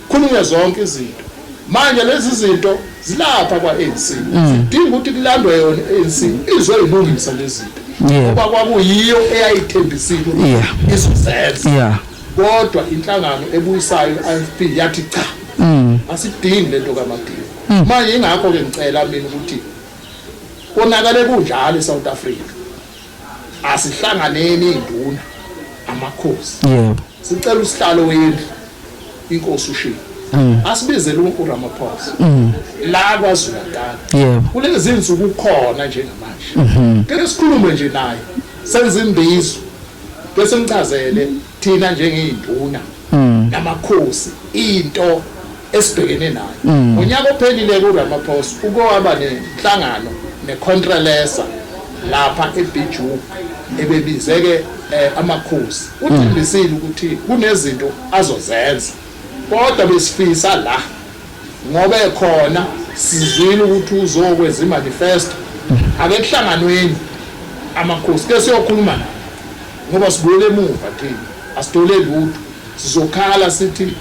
khulunywe zonke izinto manje lezi zinto zilapha kwa-anc mm. zidinga ukuthi kulandwe yona i-anc izoyilungisa lezi zinto ngoba kwakuyiyo eyayithembisile izozenza kodwa inhlangano ebuyisayo i-ifp yathi cha mm. asidingi le nto kamadini mm. manje ingakho-ke ngicela mina ukuthi konakale kunjalo e-south africa asihlanganeni induna amakhosi yebo sicela usihlalo wendlu inkosi ushilo mm. asibizele uRamaphosa mm. la kwaZulu Natal yebo kulezi insuku ukhona njengamanje mm-hmm. ke sikhulume nje naye senza imbizo bese ngichazele Thina njengey'nduna namakhosi into esibhekene nayo mm. ngonyaka ophelile kuRamaphosa uke waba nenhlangano neContrelesa lapha eBiju ebebizeke eh, amakhosi mm. uthembisile ukuthi kunezinto azozenza kodwa besifisa la ngoba ekhona sizwile ukuthi uzokwenza imanifesto mm. ake kuhlanganweni amakhosi ke siyokhuluma naye ngoba sibuyela emuva thina asithole lutho sizokhala sithi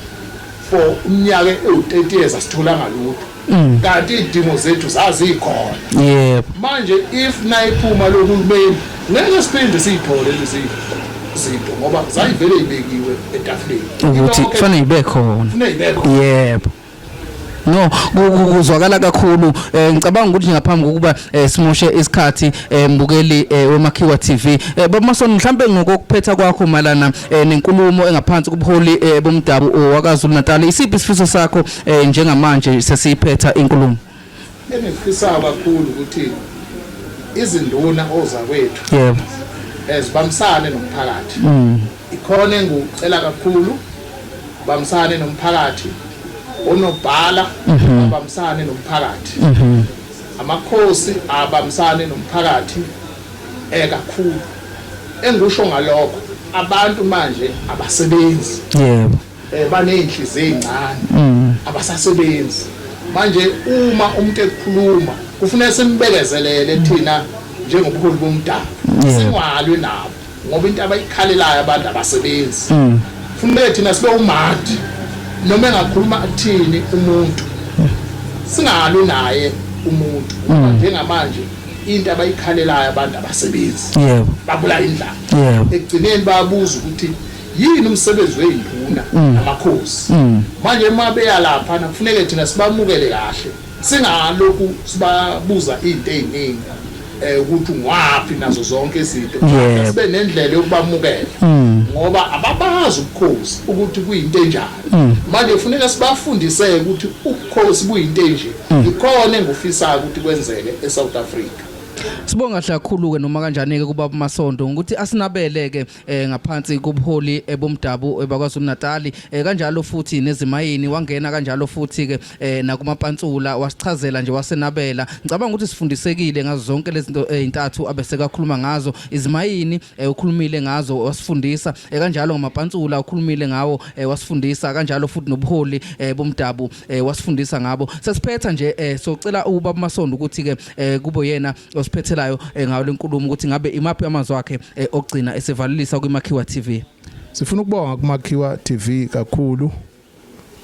for umnyaka ewu-30 years asitholanga lutho mm. kanti iy'dingo zethu zazikhona yebo manje if nayiphuma lohulumeni ngeke siphinde siyithole lezi zinto ngoba zayivele ibekiwe etafuleni ukuthi kufanele ibe khona yebo no kuzwakala kakhulu eh, ngicabanga ukuthi ngaphambi kokuba eh, simoshe isikhathi eh, mbukeli wemakhiwa TV bamasoni mhlambe ngokuphetha kwakho malana nenkulumo engaphansi kubuholi bomdabu wakaZulu Natal isiphi isifiso sakho njengamanje sesiphetha inkulumo Engikufisayo kakhulu ukuthi izinduna ozakwethu yebo ezibambisane nomphakathi mm. ikhona engikucela kakhulu bambisane nomphakathi onobhala mhm. abambisane nomphakathi mhm. amakhosi abambisane nomphakathi ekakhulu eh, engikusho ngalokho abantu manje abasebenzi yebo eh baneyinhliziyo ezincane abasasebenzi manje uma umuntu ekhuluma kufanele simbekezelele thina njengobuholi bomdabu Yeah. singalwi nabo ngoba into abayikhalelayo abantu abasebenzi Mm. kufanele thina sibe umandi noma engakhuluma athini umuntu singalwi naye umuntu ngoba Mm. njengamanje into abayikhalelayo abantu abasebenzi yebo babula indlala yebo ekugcineni bayabuza ukuthi Yini umsebenzi weyinduna mm. namakhosi? Mm. Manje uma beyalapha nakufuneke thina sibamukele kahle. Singalokhu sibabuza izinto eziningi eh ukuthi ungwaphi nazo zonke izinto. Sibe nendlela yokubamukela. Mm. Ngoba ababazi ubukhosi ukuthi kuyinto enjani. Manje kufuneka sibafundise ukuthi ubukhosi buyinto enje. Ikhona engufisa ukuthi kwenzeke eSouth Africa. Sibonga kakhulu ke noma kanjani ke kuba masondo ukuthi asinabele ke eh, ngaphansi kobuholi eh, bomdabu eh, bakwaZulu Natali eh, kanjalo futhi nezimayini wangena kanjalo futhi ke eh, nakumapantsula wasichazela nje wasenabela ngicabanga ukuthi sifundisekile ngazo zonke lezi zinto ezintathu eh, abesekakhuluma ngazo izimayini eh, ukhulumile ngazo wasifundisa eh, kanjalo ngamapantsula ukhulumile ngawo eh, wasifundisa kanjalo futhi nobuholi eh, bomdabu eh, wasifundisa ngabo sesiphetha nje eh, socela ubaba Masondo ukuthi ke eh, kubo yena osiphethelayo eh, ngayo lenkulumo ukuthi ngabe imaphi amazwi akhe eh, okugcina esivalelisa kwiMakhiwa TV sifuna ukubonga kuMakhiwa TV kakhulu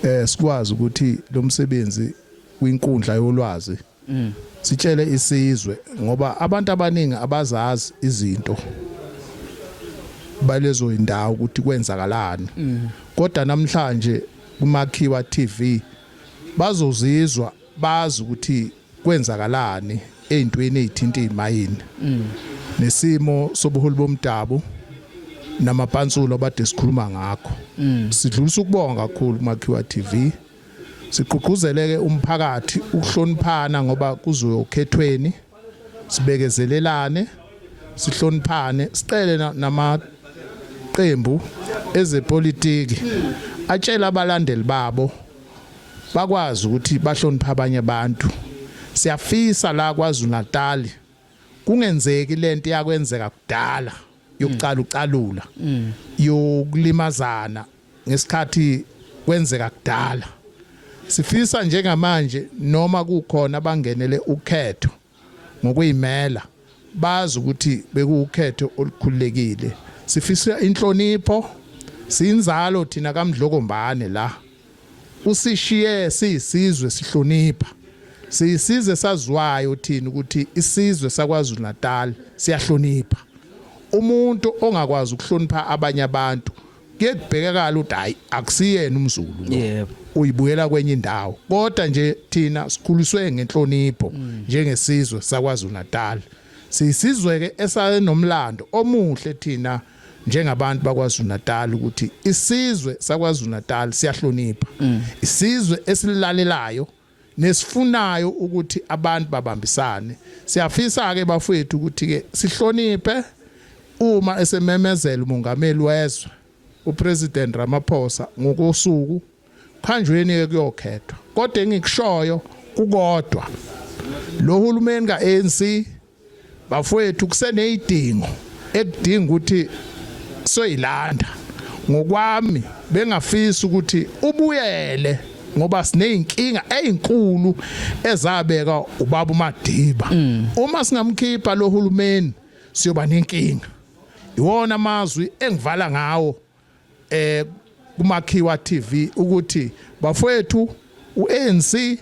eh sikwazi ukuthi lo msebenzi kwinkundla yolwazi mm. sitshele isizwe ngoba abantu abaningi abazazi izinto balezo indawo ukuthi kwenzakalani mm. kodwa namhlanje kumakhiwa TV bazozizwa bazi ukuthi kwenzakalani ezintweni ezithinta izimayini mm. nesimo sobuholi bomdabu namapansulo abade sikhuluma ngakho mm. sidlulisa ukubonga kakhulu kumakhiwa TV siqhuquzeleke umphakathi ukuhloniphana ngoba kuzoyokhethweni sibekezelelane sihloniphane sicele namaqembu ezepolitiki atshela abalandeli babo bakwazi ukuthi bahloniphe abanye abantu siyafisa la kwaZulu Natal kungenzeki lento yakwenzeka kudala yokucala ucalula mm. yokulimazana ngesikhathi kwenzeka kudala sifisa njengamanje noma kukhona abangenele ukhetho ngokuyimela bazi ukuthi bekuwukhetho olukhululekile sifisa inhlonipho sinzalo thina kamdlokombane la usishiye siyisizwe sihlonipha siyisize saziwayo thina ukuthi isizwe sakwaZulu Natal siyahlonipha umuntu ongakwazi ukuhlonipha abanye abantu kuyekubhekakala ukuthi hayi akusiyena umzulu yebo uyibuyela kwenye indawo kodwa nje thina sikhuliswe ngenhlonipho mm. njengesizwe sakwaZulu Natal sisizwe ke esanomlando omuhle thina njengabantu bakwaZulu Natal ukuthi isizwe sakwaZulu Natal siyahlonipha mm. isizwe esilalelayo nesifunayo ukuthi abantu babambisane. Siyafisa-ke bafowethu ukuthi-ke sihloniphe uma esememezela umongameli wezwe uPresident Ramaphosa ngokosuku khanjweni-ke kuyokhethwa. Kodwa engikushoyo kukodwa lo hulumeni ka-ANC Bafowethu kuseneyidingo ekudinga ukuthi soyilanda ngokwami bengafisa ukuthi ubuyele ngoba sineyinkinga ezinkulu ezabeka ubaba uMadiba mm. uma singamkhipha lohulumeni siyoba nenkinga iwona amazwi engivala ngawo eh kumakhiwa TV ukuthi bafowethu uANC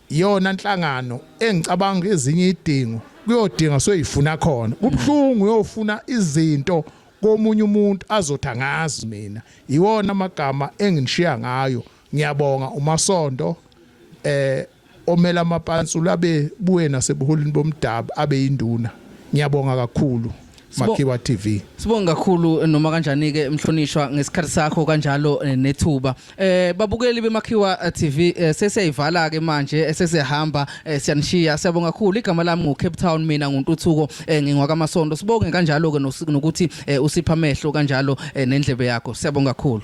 yona nhlangano engicabanga ezinye idingo kuyodinga soyifuna khona kubhlungu uyofuna izinto komunye umuntu azotha ngazi mina yiwona amagama enginishiya ngayo ngiyabonga umasondo eh Omela amapansu labe buye nasebuholini bomdabu abe induna. Ngiyabonga kakhulu. Makhiwa TV. Sibonga kakhulu noma kanjani ke mhlonishwa ngesikhathi sakho kanjalo eh, nethuba. Eh babukeli beMakhiwa eh, TV eh, sesiyayivala ke manje eh, sesihamba eh, siyanishiya. Siyabonga kakhulu igama lami ngo Cape Town mina nguNtuthuko eh, ngingwaka Masondo. Sibonge kanjalo ke nokuthi eh, usipha amehlo kanjalo eh, nendlebe yakho. Siyabonga kakhulu.